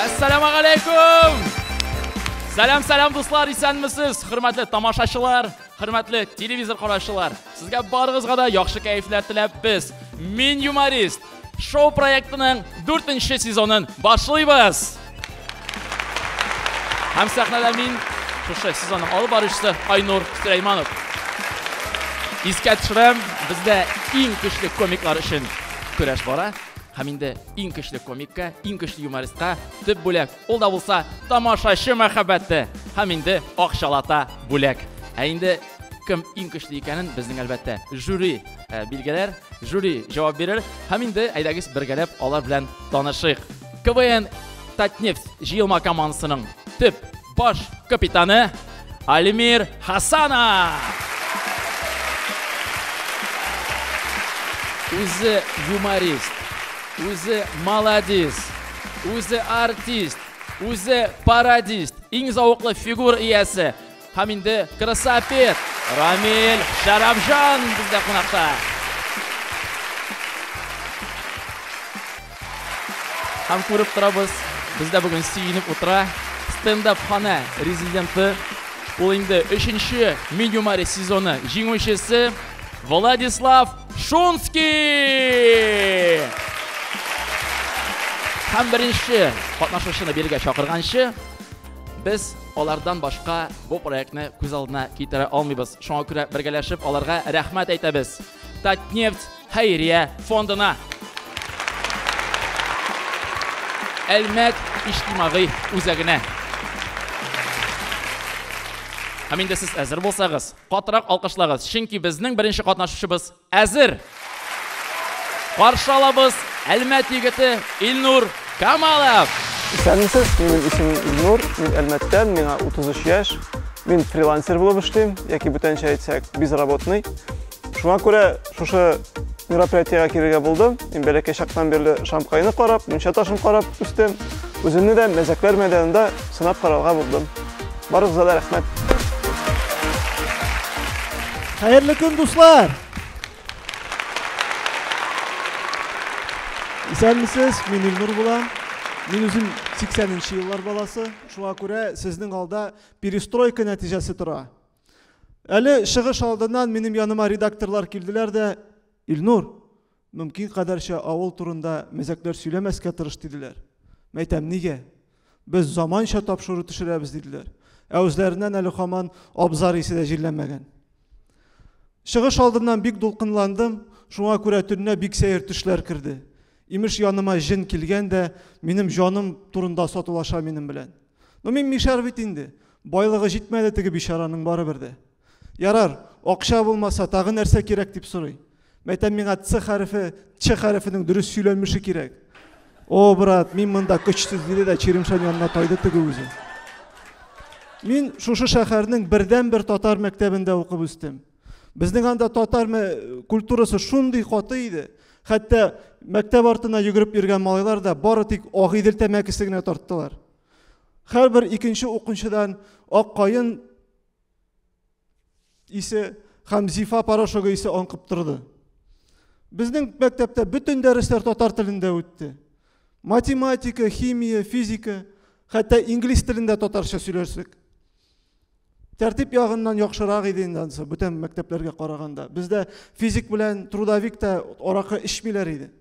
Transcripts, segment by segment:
Әссәламу алейкум! Сәлам, сәлам, дуслар, исәнмесез! Хөрмәтле тамашачылар, хөрмәтле телевизор караучылар, сезгә барыгызга да яхшы кәефләр теләп без, Мин юморист, шоу проектының 4 сезонын башлыйбыз! Һәм сәхнәдә мин шушы сезонның алып баручысы Айнур Сөләйманов. Искә төшерәм, бездә иң көчле комиклар өчен көрәш бара. Һәм инде иң көчле комикка, иң көчле юмористка төп бүләк. Ул да булса тамашачы мәхәббәте һәм инде акчалата бүләк. Ә инде кем иң көчле икәнен безнең әлбәттә жюри билгеләр, жюри җавап бирер. Һәм инде әйдәгез бергәләп алар белән танышыйк. КВН Татнефть җыелма командасының төп баш капитаны Алимир Хасанов. Үзе юморист, үзе молодец, үзе артист, үзе пародист, иң зауыклы фигур иясе, Һәм инде красавец Рамил Шәрәфҗан бездә кунакта. Һәм күреп торабыз, бездә бүген сөенеп утыра стендап хана резиденты. Ул инде өченче Минюмари сезоны җиңүчесе Владислав Шунский! Һәм беренче катнашучыны биргә чакырганчы, Без алардан башка бу проектны күз алдына китерә алмыйбыз. Шуңа күрә бергәләшеп аларга рәхмәт әйтәбез. Татнефть хәйрия фондына. Әлмәт иҗтимагый үзәгенә. Һәм инде сез әзер булсагыз, катырак алкышлагыз, чөнки безнең беренче катнашучыбыз Әзер! Каршы алабыз Әлмәт егете Илнур Камалов! Исәнмесез, минем исемем Илнур, мин Әлмәттән, миңа 33 яшь. Мин фрилансер булып эшлим, яки бүтәнчә әйтсәк, безработный. Шуңа күрә шушы мероприятиегә килергә булдым. Мин бәләкәй чактан бирле Шамкайны карап, мунча ташын карап үстем. Үземне дә мәзәкләр мәйданында сынап карарга булдым. Барыгызга да рәхмәт. Хәерле көн, дуслар! Исәнмесез, мин Илнур булам. Мин үзем 80-нче еллар баласы. Шуңа күрә сезнең алда перестройка нәтиҗәсе тора. Әле чыгыш алдыннан минем яныма редакторлар килделәр дә, Илнур, Мөмкин кадәрчә авыл турында мәзәкләр сөйләмәскә тырыш, диделәр. Мәйтәм, нигә? Без заманча тапшыру төшерәбез, диделәр. Ә үзләреннән әле хаман абзар исе дә җилләмәгән. Чыгыш алдыннан бик дулкынландым, шуңа күрә төннә бик сәер төшләр керде. Имеш, яныма җен килгән дә, минем җаным турында сатулаша минем белән. Ну, мин мишәр бит инде. Байлыгы җитмәде теге бичараның барыбер дә. Ярар, акча булмаса, тагы нәрсә кирәк дип сорый. Мәйтәм, миңа Ц хәрефе, Ч хәрефенең дөрес сөйләнмеше кирәк. О, брат, мин монда көчсез, диде дә Черемшан янына тайды теге үзе. Мин шушы шәһәрнең бердән-бер татар мәктәбендә укып үстем. Безнең анда татар культурасы шундый каты иде. Хәтта мәктәп артына йөгереп йөргән малайлар да бары тик Агыйдел тәмәкесе генә тарттылар. Һәрбер икенче укучыдан ак каен исе һәм зифа порошогы исе аңкып торды. Безнең мәктәптә бөтен дәресләр татар телендә үтте. Математика, химия, физика, хәтта инглиз телендә татарча сөйләшсек. Тәртип ягыннан яхшырак иде инде ансы, бүтән мәктәпләргә караганда. Бездә физик белән трудовик та аракы эчмиләр иде.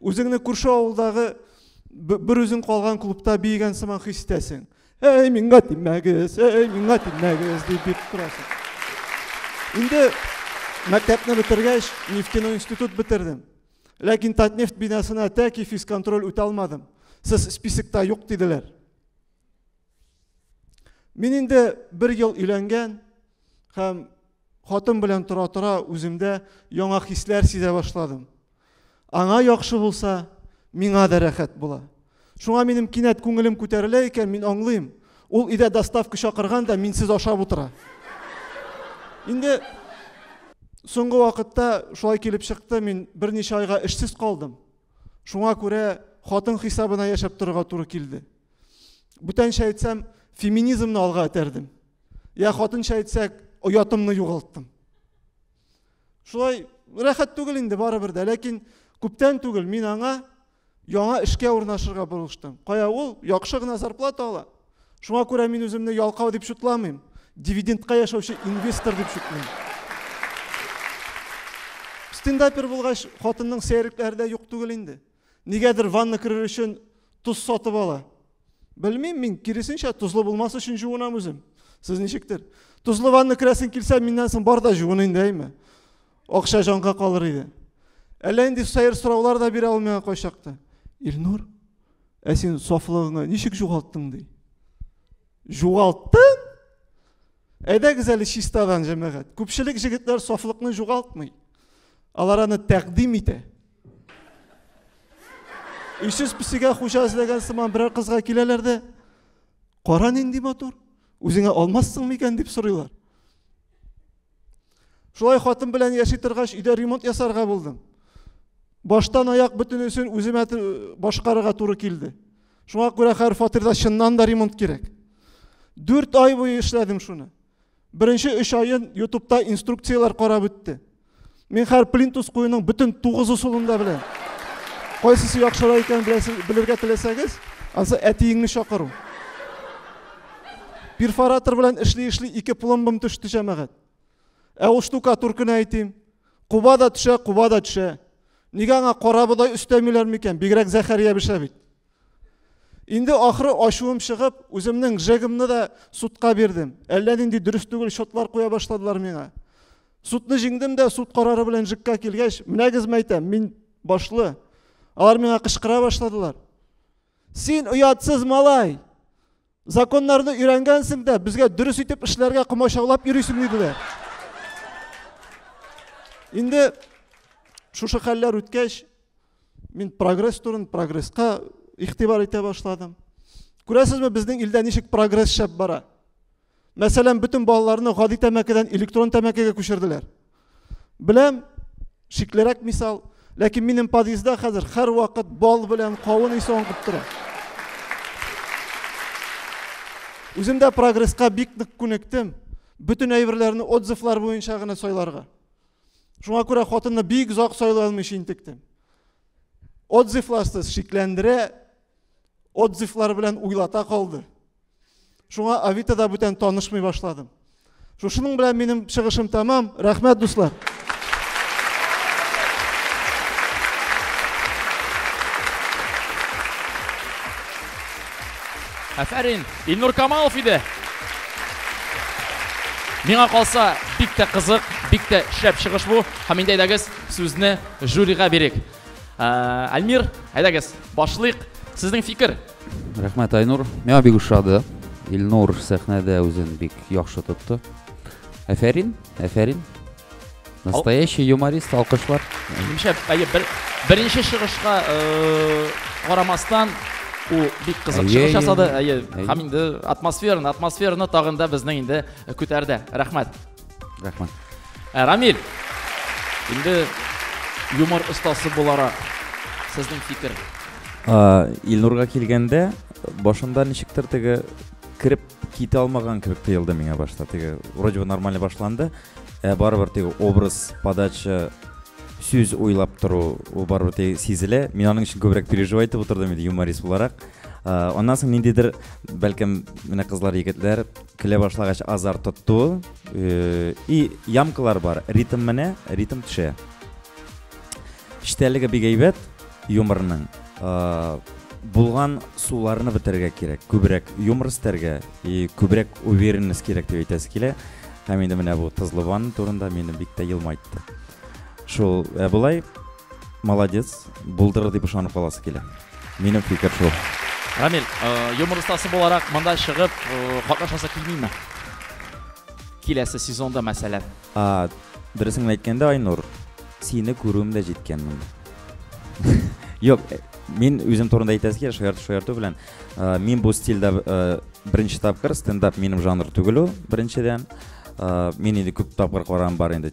Үзеңне күрше авылдагы бер үзең калган клубта биегән сыман хис итәсең. Әй, миңа тимәгез, әй, миңа тимәгез дип бит торасың. Инде мәктәпне бетергәч, нефтяной институт бетердем. Ләкин Татнефть бинасына тәки физконтроль үтә алмадым. Сез списокта юк диделәр. Мин инде бер ел өйләнгән һәм Хатын белән тора-тора үземдә яңа хисләр сизә башладым. Аңа яхшы булса, миңа да рәхәт була. Шуңа минем кинәт күңелем күтәрелә икән, мин аңлыйм. Ул өйдә доставка чакырган да минсез ашап утыра. Инде соңгы вакытта шулай килеп чыкты, мин берничә айга эшсез калдым. Шуңа күрә хатын хисабына яшәп торырга туры килде. Бүтәнчә әйтсәм, феминизмны алга этәрдем. Я хатынча әйтсәк, оятымны югалттым. Шулай рәхәт түгел инде барыбер дә, ләкин күптән түгел мин аңа яңа эшкә урнашырга булыштым. Кая ул яхшы гына зарплата ала. Шуңа күрә мин үземне ялкау дип шутламыйм. Дивидендка яшәүче инвестор дип шутлыйм. Стендапер булгач, хатынның сәерлекләре дә юк түгел инде. Нигәдер ванна керер өчен тоз сатып ала. Белмим мин, киресенчә, тозлы булмас өчен жуынам үзем. Сез ничектер? Тозлы ванна керәсен килсә, миннән соң бар да жуын инде, әйме? Акча җанга калыр иде. Әллә инде сәер сораулар да бирә ул миңа кайчакта. Илнур, ә син сафлыгыңны ничек жугалттың ди? Жугалттым? Әйдәгез әле чистадан, җәмәгать. Күпчелек җегетләр сафлыкны жугалтмый. Алар аны тәкъдим итә. Өйсез песигә хуҗа эзләгән сыман берәр кызга киләләр дә, кара нинди матур, үзеңә алмассың микән дип сорыйлар. Шулай хатын белән яши торгач, өйдә ремонт ясарга булдым. Баштан аяк бөтенесен үземә башкарырга туры килде. Шуңа күрә хәзер фатирда чыннан да ремонт кирәк. Дүрт ай буе эшләдем шуны. Беренче өч айын ютубта инструкцияләр карап үтте. Мин хәр плинтус куюның бөтен тугыз усулын да беләм. Кайсысы яхшыра икән белергә теләсәгез, ансы әтиеңне чакыру. Перфоратор белән эшли-эшли ике пломбым төште җәмәгать. Ә ул штукатур кенә әйтим. Куба да төшә, куба да төшә. Нигә аңа кара бодай өстәмиләр микән? Бигрәк Зәхәрия бешә бит. Инде ахры ачуым чыгып, үземнең жегымны да судка бирдем. Әллә нинди дөрес түгел счетлар куя башладылар миңа. Судны җиңдем дә, суд карары белән жекка килгәч, менәгез мәйтәм, мин башлы. Алар миңа кычкыра башладылар. Син оятсыз малай! Законнарны өйрәнгәнсең дә, безгә дөрес итеп эшләргә комачаулап йөрисең диделәр. Инде шушы хәлләр үткәч, мин прогресс турын, прогресска игътибар итә башладым. Күрәсезме, безнең илдә ничек прогресс шәп бара? Мәсәлән, бөтен балаларны гади тәмәкедән электрон тәмәкегә күчерделәр. Беләм, шиклерәк мисал, ләкин минем подъездда хәзер һәрвакыт бал белән кавын исе аңкып тора. Үзем дә прогресска бик нык күнектем. Бөтен әйберләрне отзывлар буенча гына сайларга. Шуңа күрә хатынны бик озак сайлый алмыйча интектем. Отзывларсыз шикләндерә, отзывлар белән уйлата калды. Шуңа Авитада бүтән танышмый башладым. Шушының белән минем чыгышым тәмам. Рәхмәт, дуслар. Афәрин, Илнур Камалов иде. Миңа калса, бик тә кызык, бик тә шәп чыгыш бу. Һәм инде әйдәгез, сүзне жюрига бирик. Әлмир, әйдәгез, башлыйк. Сезнең фикер? Рәхмәт, Айнур. Миңа бик ошады. Илнур сәхнәдә үзен бик яхшы тотты. Әфәрин, әфәрин. Настоящий юморист, алкышлар. Менемчә, әйе, бер, беренче чыгышка карамастан, ул бик кызык чыгыш ясады. Әйе, һәм инде атмосфераны, атмосфераны тагын да безнең инде көтәрдә. Рәхмәт. Рәхмәт. Ә, Рамиль, инде юмор остасы буларак сезнең фикер? А, Илнурга килгәндә, башында ничектер теге кереп китә алмаган кебек тоелды миңа башта. Теге вроде бы нормально башланды, ә барыбер теге образ, подача, сүз уйлап тору, ул барыбер теге сизелә. Мин аның өчен күбрәк переживай итеп утырдым инде юморист буларак. А, Аннан соң ниндидер, бәлкем, менә кызлар, егетләр, Килә башлагач азар тотту. Э, и ямкалар бар. Ритм менә, ритм төшә. Эчтәлеге бик әйбәт юморның. Э, булган суларны бетерергә кирәк. Күбрәк юмор истәргә и күбрәк уверенность кирәк дип әйтәсе килә. Һәм инде менә бу Тызлыбан турында мине бик тә елмайтты. Шул, ә болай Молодец, булдырыр дип ышанып каласы килә. Минем фикер шул. Рамил, юмор остасы буларак монда чыгып катнашасы килмиме? Киләсе сезонда мәсәлән. А, дөресен әйткәндә, Айнур, сине күрүем дә җиткән монда. Юк, мин үзем турында әйтәсе килә, шаярту шаярту белән. Мин бу стильдә беренче тапкыр стендап минем жанр түгел ул, беренчедән. Мин инде күп тапкыр караган бар инде.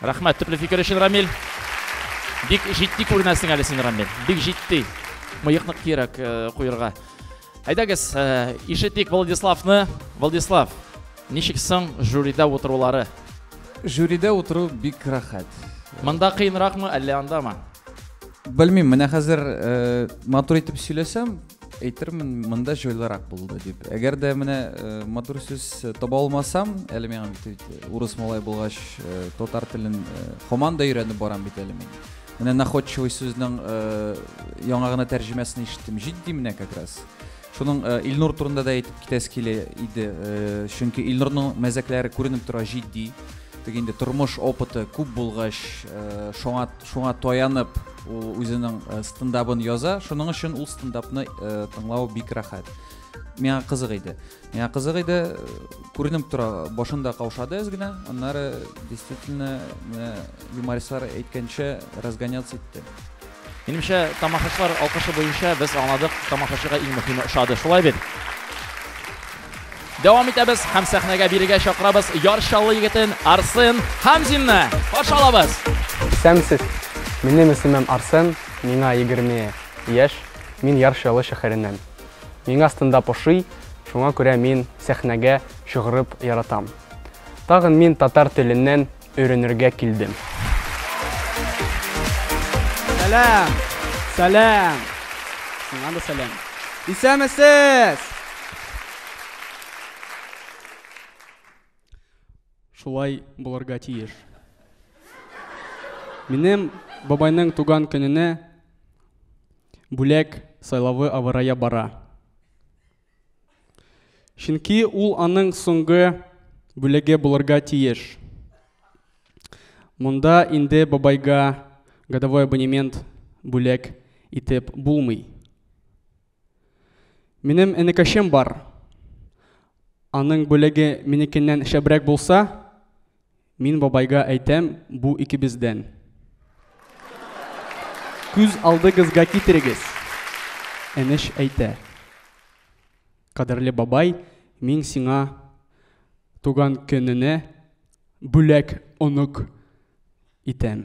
Рәхмәт төпле фикер өчен, Рамиль. Бик җитди күренәсең әле син, Рамиль. Бик җитди. Мыекны кирәк куерга. Әйдәгез, ишетик Владиславны. Владислав, ничек соң жюрида утырулары? Жюрида утыру бик рәхәт. Монда кыенракмы, әллә андамы? Белмим, менә хәзер матур итеп сөйләсәм, әйтермен монда җайлырак булды дип әгәр дә менә э, матур сүз э, таба алмасам әле миңа бит э, урыс малай булгач татар телен һаман да өйрәнеп барам бит әле мин менә находчивый сүзнең яңа гына тәрҗемәсен ишеттем җитди менә как раз шуның илнур турында да әйтеп китәсе килә иде чөнки илнурның мәзәкләре күренеп тора җитди теге инде тормыш опыты күп булгач шуңа Шуңа таянып, ул үзенең э, стендабын яза. Шуның өчен ул стендапны э, тыңлау бик рәхәт. Миңа кызык иде. Миңа кызык иде, э, күренеп тора, башында каушады әз генә, аннары действительно менә юмористлар әйткәнчә разгоняться итте. Минемчә, тамашачылар алкышы буенча без аңладык, тамашачыга иң мөһиме ошады. Шулай бит? Дәвам итәбез һәм сәхнәгә бирегә чакырабыз Яр Чаллы егетен Арсен Хамзинны. Каршы алабыз! Исәнмесез! Минем исемем Арсен, миңа 20 яшь, мин Яр Чаллы шәһәреннән. Миңа стендап ошый, шуңа күрә мин сәхнәгә чыгырып яратам. Тагын мин татар теленнән өйрәнергә килдем. Сәлам! Сәлам! Сиңа да сәлам! Исәнмесез! Шулай булырга тиеш. Минем бабайның туган көненә бүләк сайлавы авырая бара. Чөнки ул аның соңгы бүлеге булырга тиеш. Монда инде бабайга годовой абонемент бүләк итеп булмый. Минем энекәшем бар. Аның бүлеге минекеннән шәбрәк булса, Мин бабайга әйтәм, бу икебездән. Күз алдыгызга китерегез. Энеш әйтә. Кадерле бабай, мин сиңа туган көненә бүләк онык итәм.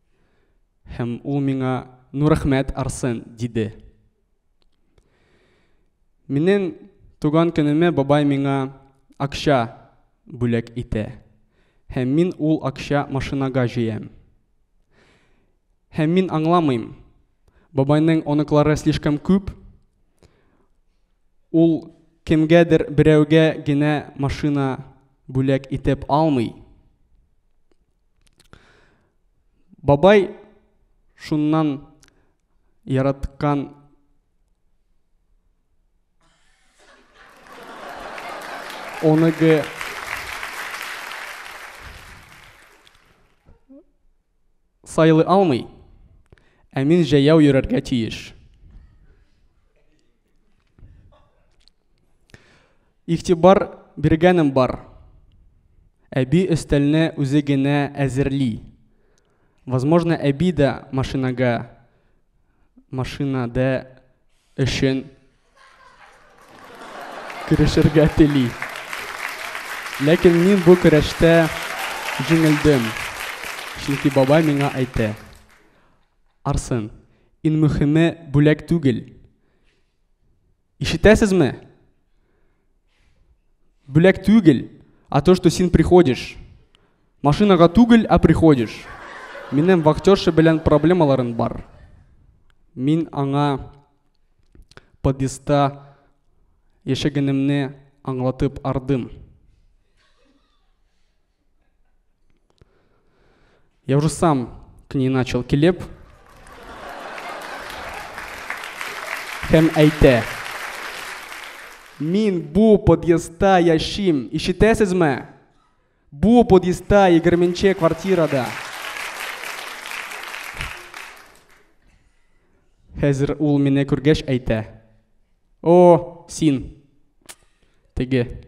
Һәм ул миңа, Ну, рәхмәт, Арсен, диде. Минем туган көнемә бабай миңа акча бүләк итә. Һәм мин ул акча машинага җыям. Һәм мин аңламыйм. Бабайның оныклары слишком күп. Ул кемгәдер берәүгә генә машина бүләк итеп алмый. Бабай шуннан яраткан оныгы сайлый алмый, ә мин җәяү йөрергә тиеш. Игътибар биргәнем бар. Әби өстәлне үзе генә әзерли. Возможно, әби дә машинага машинада өчен керешергә тели. Ләкин мин бу көрәштә җиңелдем. Чөнки бабай миңа әйтә, Арсен. Ин мөхиме бүләк түгел. Ишетәсезме? Бүләк түгел, а то что син приходишь. Машинага түгел, а приходишь. Минем вахтерша белән проблемаларым бар. Мин аңа подъездта яшәгәнемне аңлатып ардым. Я уже сам к ней начал келеп. Һәм әйтә. Мин бу подъездда яшим. Ишетәсезме? Бу подъездда 20 квартирада. Хәзер ул мине күргәч әйтә. О, син. Теге.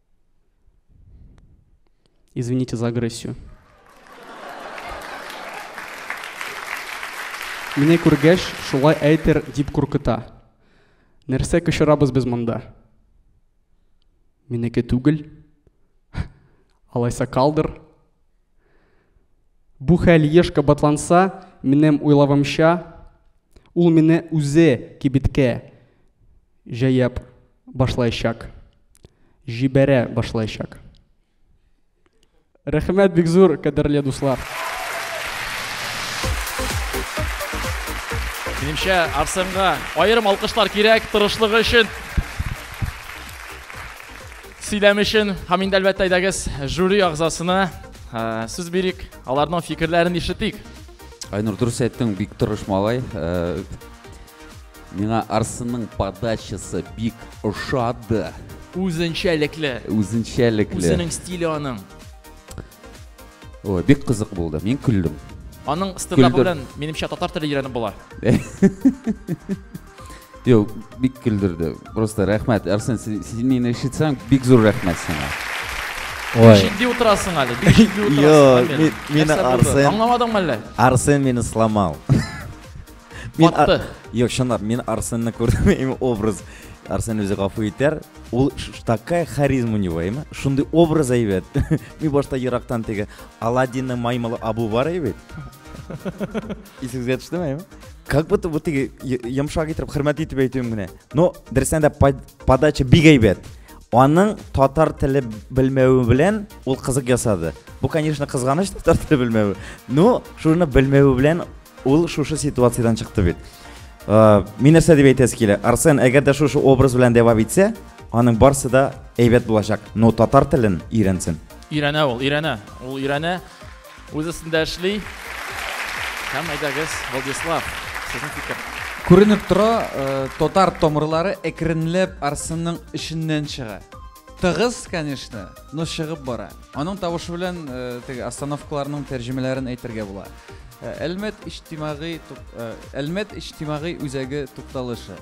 Извините за агрессию. Мине күргәч, шулай әйтер дип куркыта. Нәрсә кычырабыз без монда? Минеке түгел. Алайса калдыр. Бу хәл еш кабатланса, минем уйлавымча, ул мине үзе кибеткә җәяп башлаячак. Җибәрә башлаячак. Рәхмәт бик зур, кадерле дуслар. Минемчә, Арсенга аерым алкышлар кирәк тырышлыгы өчен. Сөйләм өчен һәм инде әлбәттә әйдәгез жюри агзасына сүз бирик, аларның фикерләрен ишетик. Айнур, дөрес әйттең, бик тырыш малай. Миңа Арсенның подачасы бик ошады. Үзенчәлекле. Үзенчәлекле. Үзенең стиле аның. Ой, бик кызык булды. Мин көлдем. Аның стендапы белән минемчә татар теле өйрәнеп була. Юк, бик көлдерде. Просто рәхмәт. Арсен, син мине ишетсәң, бик зур рәхмәт сиңа. Ой. Җитди утырасың әле. Бик җитди утырасың. Юк, мин Арсен. Аңламадыңмы әллә? Арсен мине сломал. Мин Батты. ар- Юк, чынлап, мин Арсенны күрдем, именно образ. Арсен үзе гафу итәр. Ул ш- ш- такая харизма у него, именно. Шундый образ әйбәт. Мин башта ерактан теге Аладдинның маймылы Абу бар әйбәт. Исегезгә төштеме, именно? Как будто вот теге й- йомшак итеп хөрмәт итеп әйтүем генә. Но дөрестән дә под- подача бик әйбәт. Аның татар теле белмәве белән ул кызык ясады. Бу, конечно, кызганыч татар теле белмәве. Но шуны белмәве белән Ул шушы ситуациядән чыкты бит. Э, мин нәрсә дип әйтәсе килә? Арсен, әгәр дә шушы образ белән дәвам итсә, аның барсы да әйбәт булачак. Но татар телен өйрәнсен. Өйрәнә ул, өйрәнә. Ул өйрәнә. Үз өстендә эшли. Һәм әйдәгез, Владислав, сезнең фикер. Күренеп тора, э, татар томырлары әкренләп Арсенның эшеннән чыга. Тыгыз, конечно, но чыгып бара. Аның тавышы белән теге остановкаларның тәрҗемәләрен әйтергә була. Әлмәт иҗтимагый Әлмәт иҗтимагый үзәге тукталышы.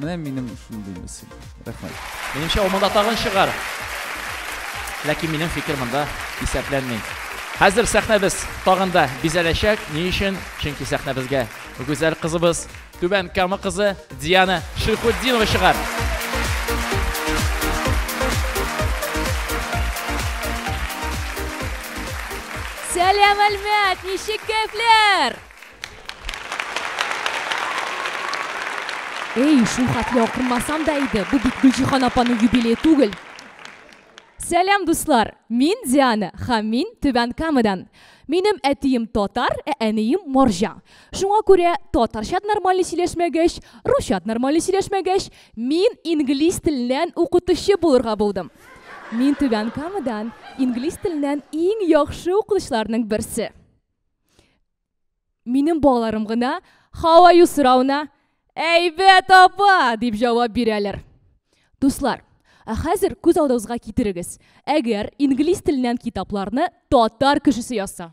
Менә минем шундый мысль. Рәхмәт. Минемчә, ул монда тагын чыгар. Ләкин минем фикер монда исәпләнми. Хәзер сәхнәбез тагын да бизәләчәк. Ни өчен? Чөнки сәхнәбезгә гүзәл кызыбыз Түбән Кама кызы Диана Шихутдинова чыгар. Сәлам, Әлмәт! Ничек кәйфләр? Эй, шул хәтле акырмасам да иде. Бу бит Гөлҗихан апаның юбилее түгел. Сәлам, дуслар! Мин Диана һәм мин Түбән Камадан. Минем әтием татар, ә әнием морҗа. Шуңа күрә татарчат нормале сөйләшмәгәч, русчат нормале сөйләшмәгәч, мин инглиз теленнән укытучы булырга булдым. Мин Түбән Камадан инглиз теленнән иң яхшы укытучыларның берсе. Минем балаларым гына How are you сорауына Әйбәт, апа! дип җавап бирәләр. Дуслар, ә хәзер күз алдыгызга китерегез, әгәр инглиз теленнән китапларны татар кешесе язса,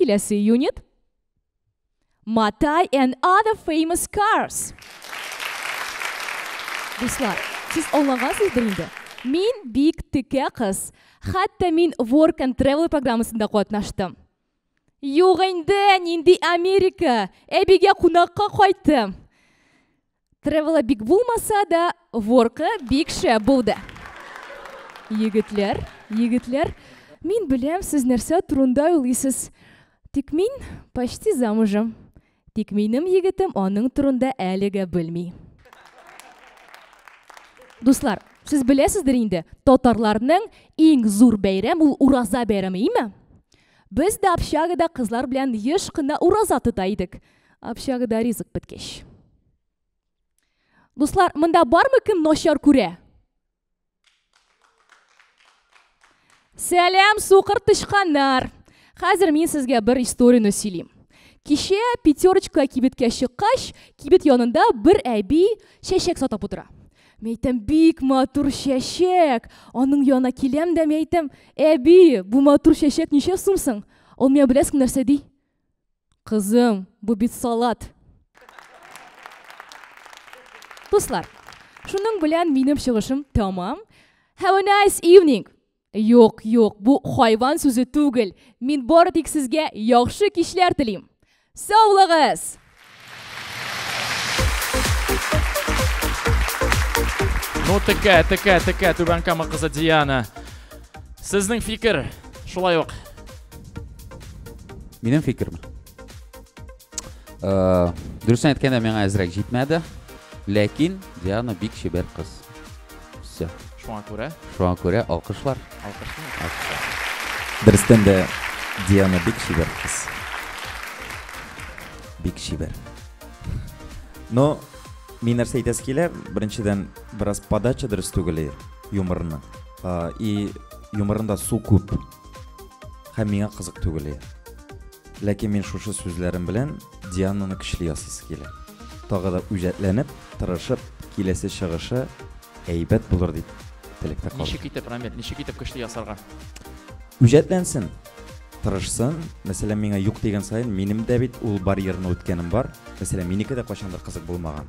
Киләсе юнит. Матай and other famous cars. Дуслар, сез аңлагансыздыр инде. Мин бик текә кыз. Хәтта мин Work and Travel программасында катнаштым. Юк инде, нинди Америка? Әбигә кунакка кайттым. Тревела бик булмаса да, воркы бик шәп булды. Егетләр, егетләр, мин беләм, сез нәрсә турында уйлыйсыз. Тик мин почти замужем. Тик минем егетем аның турында әлегә белми. Дуслар, сез беләсездер инде, татарларның иң зур бәйрәм ул Ураза бәйрәме, име? Без дә общагада кызлар белән еш кына Ураза тота идек. Общагыда ризык беткәч. Дуслар, монда бармы кем начар күрә? Сәлам, сукыр тычканнар! Хәзер мин сезгә бер историяне сөйлим. Кичә пятерочка кибеткә чыккач, кибет янында бер әби чәчәк сатып утыра. Мәйтәм, бик матур чәчәк. Аның янына киләм дә мәйтәм, әби, бу матур чәчәк ничә сумсың? Ул миңа беләсең нәрсә ди? Кызым, бу бит салат. Дуслар, шуның белән минем чыгышым тәмам. Have a nice evening. Юк, юк, бу хайван сүзе түгел. Мин бары тик сезгә яхшы кичләр телим. Саулыгыз! Ну, текә, текә, текә, түбән кама кызы Диана. Сезнең фикер шулай ук. Минем фикерме? Э, Дөресен әйткәндә миңа әзрәк җитмәде. Ләкин Диана бик чибәр кыз. Все. Шуңа күрә. Шуңа күрә алкышлар. Алкышлар. Дөрестән дә Диана бик чибәр кыз. Бик чибәр. Но мин нәрсә әйтәсе килә, беренчедән, бераз подача дөрес түгел юморның. Ә, и юморында су күп һәм миңа кызык түгел иә ләкин мин шушы сүзләрем белән диананы көчле ясыйсы килә тагы да үҗәтләнеп тырышып киләсе чыгышы әйбәт булыр дип теләктә калдым ничек итеп рамил ничек итеп көчле ясарга үҗәтләнсен тырышсын мәсәлән миңа юк дигән саен минем дә бит ул барьерны үткәнем бар мәсәлән минеке дә кайчандыр кызык булмаган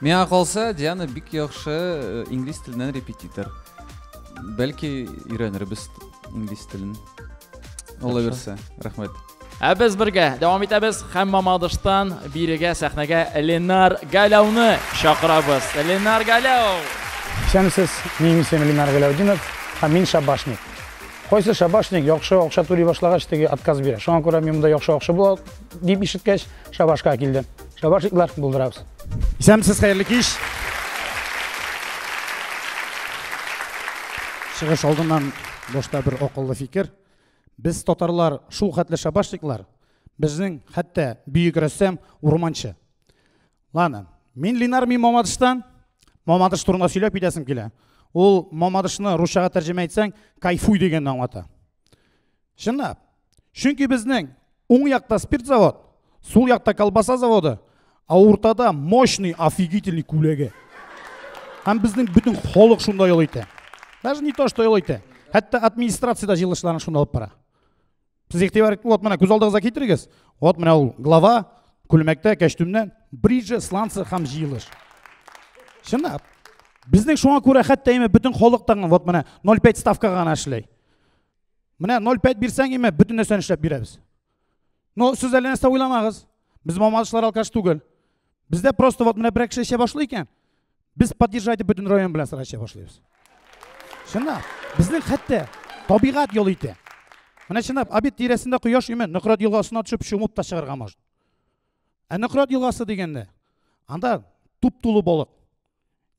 Миңа калса, Диана бик яхшы э, инглиз теленнән репетитор. Бәлки өйрәнербез инглиз телен. Алла бирсә. Рәхмәт. Ә без бергә дәвам итәбез һәм Мамадыштан бирегә сәхнәгә Ленар Галәүне чакырабыз. Ленар Галәү. Исәнмесез, минем исемем Ленар Галәүдинов, һәм мин шабашник. Кайсы шабашник яхшы акча түли башлагач, теге отказ бирә. Шуңа күрә мин монда яхшы акча була дип ишеткәч, шабашка килдем. Шабашиклар булдырабыз. Исәнмесез, хәерле кич. Чыгыш алдыннан башта бер акыллы фикер. Без татарлар шул хәтле шабашниклар, безнең хәтта бөек рәссам Урманчы. Ладно, мин Ленар мин Мамадыштан. Мамадыш турында сөйләп китәсем килә. Ул Мамадышны русчага тәрҗемә итсәң, кайфуй дигәнне аңлата. Чынлап, Чөнки безнең уң якта спирт завод, сул якта колбаса заводы, а уртада мощный, офигительный күләге. Һәм безнең бөтен халык шунда ял итә. Даже не то, что ял итә. Хәтта администрация да җыелышларын шунда алып бара. Сез игътибар итегез, вот менә күз алдыгызга китерегез. Вот менә ул глава күлмәктә, кәчтүмнән, бриджи, сланцы һәм җыелыш. Чынлап. Безнең шуңа күрә хәтта имә бөтен халык тагын вот менә 0,5 ставка гына эшли. Менә 0,5 бирсәң, име, бүтін нәрсәне эшләп бирәбез. Но сез әле нәрсә уйламагыз. Без мамадышлар алкаш түгел. Бездә просто вот менә берәк эшә башлый икән, без поддержать итеп бөтен район белән сорашып башлыйбыз. Чынлап, безнең хәтта табигать юл итә. Менә чынлап, обед тирәсендә кояш име, Нократ елгасына төшеп чумып та чыгарга может. Ә Нократ елгасы дигәндә, анда туп тулы балык.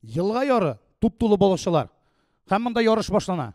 Елга яры, туп тулы балыкчылар. Һәм монда ярыш башлана.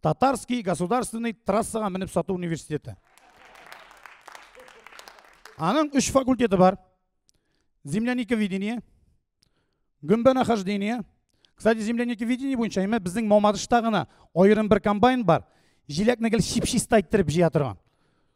Татарский государственный трассага менеп сату университеты. Аның үш факультеты бар. Земляника видения, гөмбә нахождения. Кстати, земляника видения буенча имә безнең Мамадышта гына аерым бер комбайн бар. Җиләкне гел чипчиста иттереп җыя торган.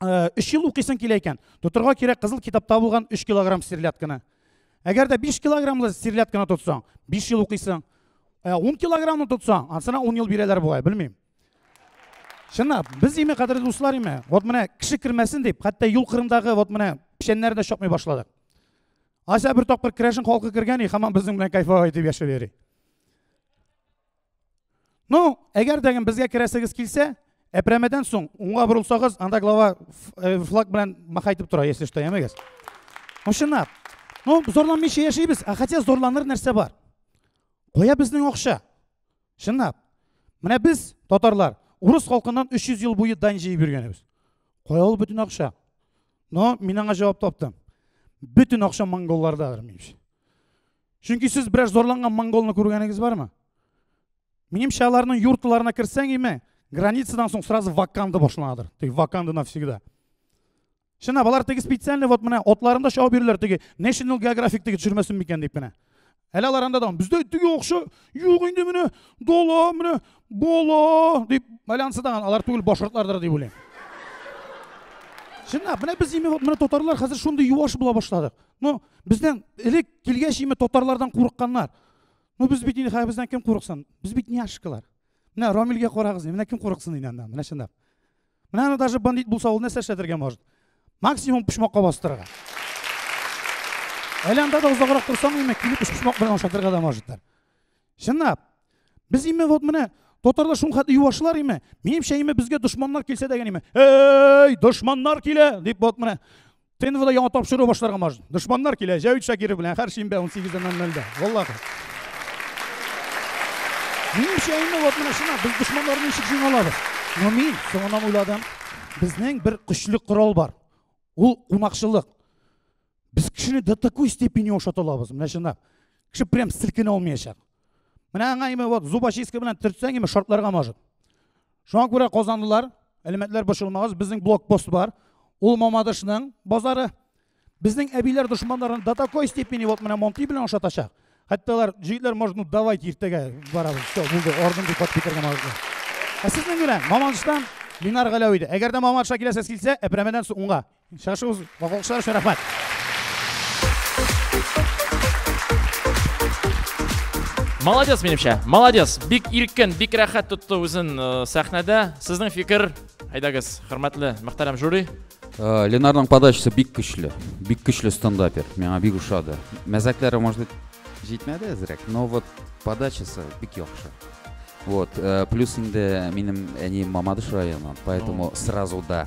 э, өч ел укыйсың килә икән, тотырга кирәк кызыл китапта булган 3 килограмм серлядканы. Әгәр дә 5 килограммлы серлядканы тотсаң, 5 ел укыйсың. 10 э, килограммны тотсаң, ансына 10 ел бирәләр бугай, белмим. Чынлап, без име кадерле дуслар име? Вот менә кеше кермәсен дип, хәтта юл кырындагы вот менә печәннәр дә чапмый башладык. Ася бер тапкыр керәшен халкы кергән и хаман безнең белән кайфовай итеп яшәп йөри. Ну, әгәр дә безгә керәсегез килсә, әпрәмәдән соң уңга борылсагыз, анда глава э, флаг белән махай итеп тора, если что, ямегез. Ну, чынлап. Ну, зарланмыйча яшибез, а хотя зарланыр нәрсә бар. Кая безнең акча? Чынлап. Менә без, татарлар, урыс халкыннан 300 ел буе дань җыеп йөргәнбез. Кая ул бөтен акча? Но мин аңа җавап таптым. Бөтен акча монголлардадыр, минемчә. Чөнки сез берәр зарланган монголны күргәнегез бармы? Минемчә, аларның юртларына керсәң име, границадан соң сразу ваканда башланадыр. Теге ваканда навсегда. Шына, балар теге специальный вот менә отларында шау бирүләр теге National Geographic теге төшермәсен микән дип менә. Әле алар анда да бездә теге акча юк инде менә дала менә бала дип байланысы да алар түгел башкортлардыр дип уйлыйм. Шына, менә без име вот менә татарлар хәзер шундый юаш була башладык. Ну, бездән элек килгәч име татарлардан курыкканнар. Ну, без бит инде бездән кем курыксын? Без бит няшкалар. Менә Рамилгә карагыз, менә кем курыксын инде аннан, менә чынлап. Менә аны даже бандит булса ул нәрсә эшләтергә может? Максимум почмакка бастырырга. Әле анда да озаграк торсам, инде килеп почмак белән ашатырга да можетлар. Чынлап. Без име вот менә татарлар шул хәтле юашлар име? Минемчә име безгә дошманнар килсә дигән име? Эй, дошманнар килә дип вот менә ТНВда яңа тапшыру башларга можно. Дошманнар килә, Җәвит Шакиров белән һәр шимбә 18:00-да. Валлаһи. Минемчә инде вот менә шуна без дошманнарны ничек җиңә алабыз? Но мин соңыннан уйладым, безнең бер көчле корал бар. Ул кунакчылык. Без кешене до такой степени ошата алабыз, менә чынлап. Кеше прям силкенә алмаячак. Менә аңа име вот зубочистка белән төртсәң име шартларга может. Шуңа күрә казанлылар, әлеметләр бошылмагыз, безнең блокпост бар. Ул Мамадышның базары. Безнең әбиләр дошманларын до такой степени вот менә Монти белән ошатачак. Хәтта алар җитләр может, ну давайте иртәгә барабыз. Все, булды, орден дип хат китергән аларга. Ә сезнең белән Мамадыштан Ленар Галәви иде. Әгәр дә Мамадышка киләсез килсә, Әпрәмәдән соң уңга. Шашу, алкышлар өчен рәхмәт. Молодец, минемчә. Молодец. Бик иркен, бик рәхәт тотты үзен э, сәхнәдә. Сезнең фикер, әйдәгез, хөрмәтле, мөхтәрәм жюри. Э, Ленарның подачасы бик көчле. Бик көчле стендапер. Миңа бик ошады. Мәзәкләре, может быть, җитмәде әзрәк, но вот подачасы бик яхшы. Вот, э, плюс инде минем әнием Мамадыш районыннан, поэтому сразу да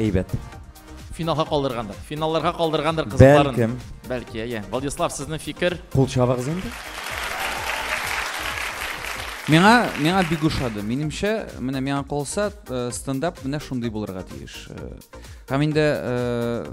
Әйбәт. Финалга калдыргандыр. Финалларга калдыргандыр кызларын. Бәлкем. Бәлки, әйе. Владислав, сезнең фикер? Кул чабыгыз инде. Миңа, миңа бик ошады. Минемчә, менә миңа калса, э, стендап менә шундый булырга тиеш. Э, һәм инде э,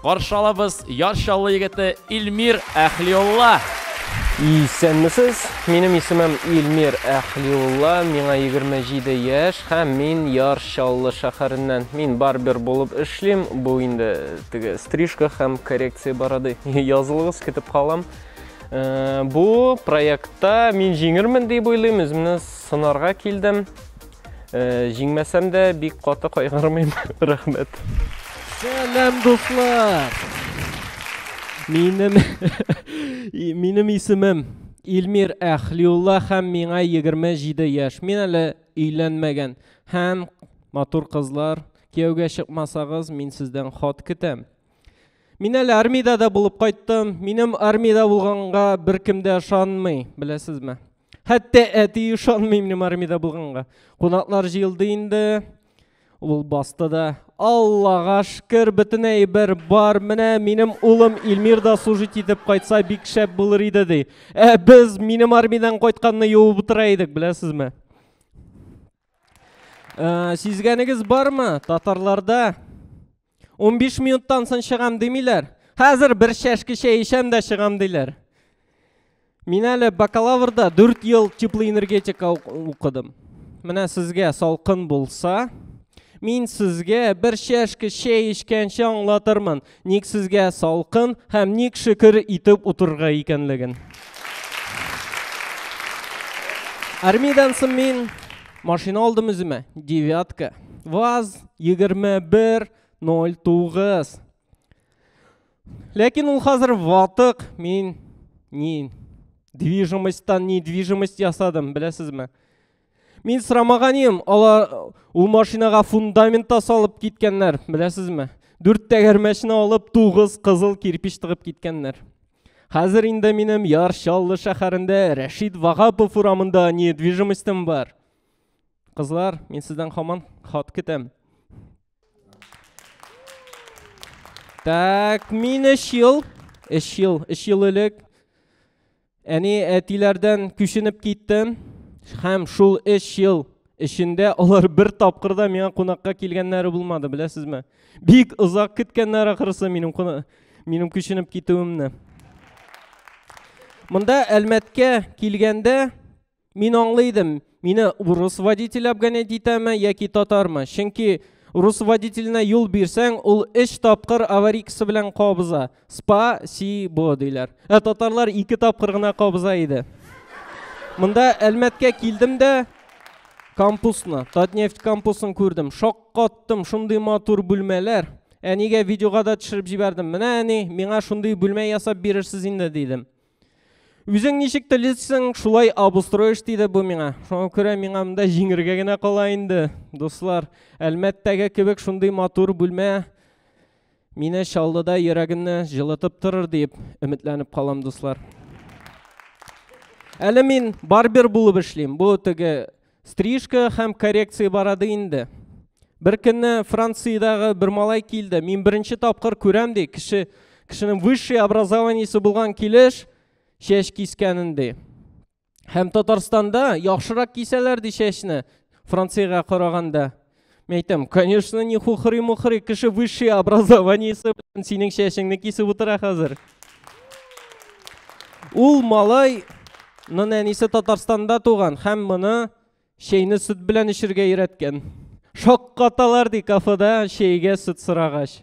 Каршы алабыз Яр Чаллы егете Илмир Әхлиулла. Исәнмесез, минем исемем Илмир Әхлиулла, миңа 27 яшь һәм мин Яр Чаллы шәһәреннән. Мин барбер булып эшлим, бу инде теге стрижка һәм коррекция бороды. Язылыгыз, көтеп калам. Э, бу проектта мин җиңермен дип уйлыйм, үземне сынарга килдем. Э, җиңмәсәм дә бик каты кайгырмыйм. Рәхмәт. Сәлам дуслар. Минем минем исемем Илмир Әхлиулла һәм миңа 27 яшь. Мин әле өйләнмәгән. Һәм матур кызлар, кияүгә чыкмасагыз, мин сездән хат көтәм. Мин әле армиядә дә булып кайттым. Минем армиядә булганга беркем дә ышанмый, беләсезме? Хәтта әти ышанмый минем армиядә булганга. Кунаклар җыелды инде. Ул басты да. Аллага шкер, бөтен әйбер бар. Менә минем улым Илмир да служить итеп кайтса бик шәп булыр иде ди. Ә без минем армиядән кайтканны юып утыра идек, беләсезме? Ә, сизгәнегез бармы? Татарларда 15 минуттан соң чыгам димиләр. Хәзер бер чәшке чәй эчәм дә чыгам диләр. Мин әле бакалаврда 4 ел теплый энергетика укыдым. Менә сезгә салкын булса, мин сезгә бер чәшке чәй эчкәнче аңлатырмын. Ник сезгә салкын һәм ник шөкер итеп утырырга икәнлеген. Армиядән соң мин машина алдым үземә, девятка. ВАЗ 2109. Ләкин ул хәзер ватык, мин ни движимостьтан недвижимость ясадым, беләсезме? Мин сорамаган идем, алар ул машинага фундамент та салып киткәннәр, беләсезме? Дүрт тәгәрмәчне алып, тугыз кызыл кирпич тыгып киткәннәр. Хәзер инде минем Яр Чаллы шәһәрендә Рәшид Вагапов урамында недвижимостем бар. Кызлар, мин сездән хаман хат көтәм. Так, мин 3 ел, 3 ел, 3 ел элек Әни әтиләрдән күченеп киттем һәм шул өч ел эчендә алар бер тапкыр да миңа кунакка килгәннәре булмады, беләсезме? Бик озак көткәннәр ахрысы минем минем күченеп китүемне. Монда Әлмәткә килгәндә Мин аңлый идем, мине урыс водитель обгонять итәме яки татармы? Чөнки урыс водителенә юл бирсәң, ул өч тапкыр аварийкасы белән кабыза. Спа, си, бо диләр. Ә татарлар ике тапкыр гына кабыза иде. Монда Әлмәткә килдем дә кампусны, Татнефть кампусын күрдем. Шаккаттым, шундый матур бүлмәләр. Әнигә видеога да төшереп җибәрдем. Менә әни, миңа шундый бүлмә ясап бирерсез инде, дидем. Үзең ничек телисең, шулай обустроишь дейді бу миңа. Шуңа күрә миңа монда җиңергә генә кала инде. Дуслар, Әлмәттәге кебек шундый матур бүлмә мине Чаллыда йөрәгемне җылытып торыр дип өметләнеп калам, дуслар. Әле мин барбер булып эшлим. Бу теге Стрижка һәм коррекция барады инде. Бер көнне Франциядәге бер малай килде. Мин беренче тапкыр күрәм ди, кеше кешенең высший образованиесе булган килеш чәч кискәнен ди. Һәм Татарстанда яхшырак кисәләр ди чәчне Франциягә караганда. Мен әйтәм, конечно, не хухрый-мухрый, кеше высшее образование белән синең чәчеңне кисеп утыра хәзер. Ул малай нын әнисе Татарстанда туган һәм моны чәйне сөт белән эчергә өйрәткән. Шаккаталар ди кафеда чәйгә сөт сорагач.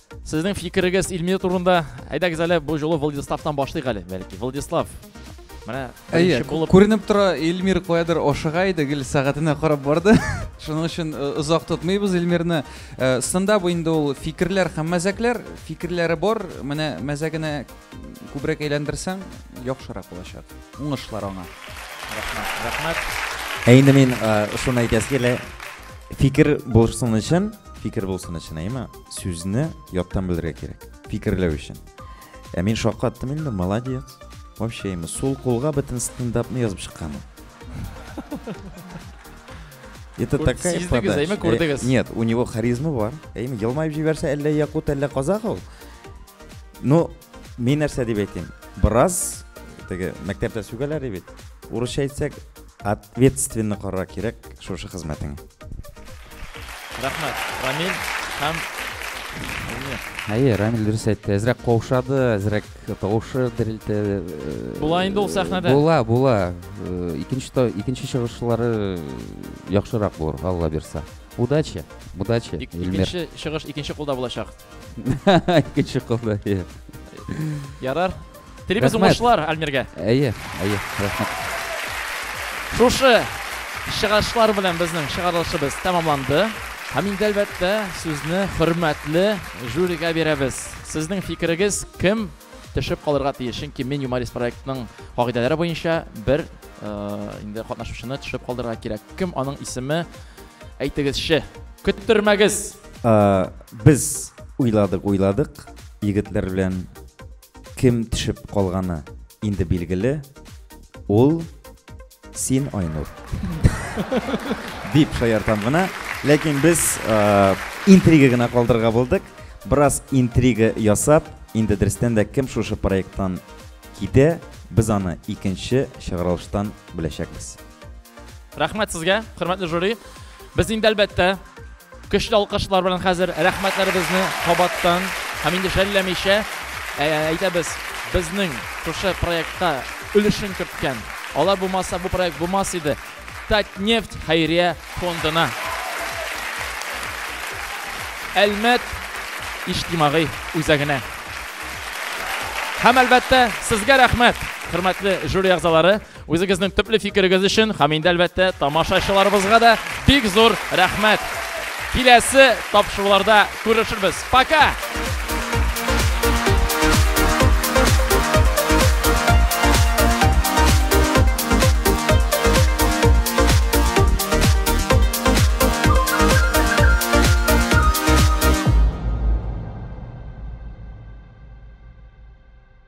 Сезнең фикерегез Илмир турында. Әйдәгез әле бу жолы Владиславтан башлыйк әле, бәлки. Владислав, менә Әйе, булып... күренеп тора, Илмир каядыр ашыга иде, гел сәгатенә карап барды. Шуның өчен э, озак тотмыйбыз Илмирне. Э, Станда бу инде ул фикерләр һәм мәзәкләр, фикерләре бар. Менә мәзәгенә күбрәк әйләндерсәң, яхшырак булачак. Уңышлар аңа. Рәхмәт, рәхмәт. Ә инде мин э, шуны әйтәсе килә. Фикер булсын өчен, фикер булсын өчен, әйме? сүзне яттан белергә кирәк фикерләү өчен ә мин шаккаттым инде молодец вообще именно сул кулга бөтен стендапны язып чыккан это такая подача э, нет у него харизма бар әйме елмаеп җибәрсә әллә якут әллә казах ул ну мин нәрсә дип әйтим бераз теге мәктәптә сүгәләр бит урысча әйтсәк Ответственно карарга кирәк шушы хезмәтең. Рәхмәт, Рамил һәм Әйе, Рамил дөрес әйтте. Әзрәк каушады, әзрәк тавышы дерелте. Була инде ул сәхнәдә. Була, була. Икенче икенче чыгышлары яхшырак булыр, Алла бирса. Удачи, удачи. Икенче чыгыш икенче кулда булачак. Икенче кулда. Ярар. Телибез уңышлар Альмиргә. Әйе, әйе, рәхмәт. Шушы чыгышлар белән безнең чыгарылышыбыз тәмамланды. Һәм инде әлбәттә сүзне хөрмәтле жюригә бирәбез. Сезнең фикерегез кем төшеп калырга тиеш? Чөнки мин юморист проектының кагыйдәләре буенча бер э, инде катнашучыны төшеп калдырырга кирәк. Кем аның исеме? Әйтегезче. Көттермәгез. Ә, без уйладык, уйладык. Егетләр белән Кем төшеп калганы инде билгеле, ул син, Айнур. Дип шаяртам гына, ләкин без э, интрига гына калдырырга булдык. Бераз интрига ясап, инде дөрестән дә кем шушы проекттан китә, без аны икенче чыгарылыштан беләчәкбез. Рәхмәт сезгә, хөрмәтле жюри. Без инде әлбәттә көчле алкышлар белән хәзер рәхмәтләребезне кабаттан һәм инде жәлләмичә ә, әйтәбез безнең шушы проектта өлешен керткән. Алар булмаса бу проект булмас иде. Татнефть хәйрия фондына. Әлмәт иҗтимагый үзәгенә. Һәм әлбәттә сезгә рәхмәт, хөрмәтле жюри әгъзалары. Үзегезнең төпле фикерегез өчен һәм инде әлбәттә тамашачыларыбызга да бик зур рәхмәт. Киләсе тапшыруларда күрешербез. Пока!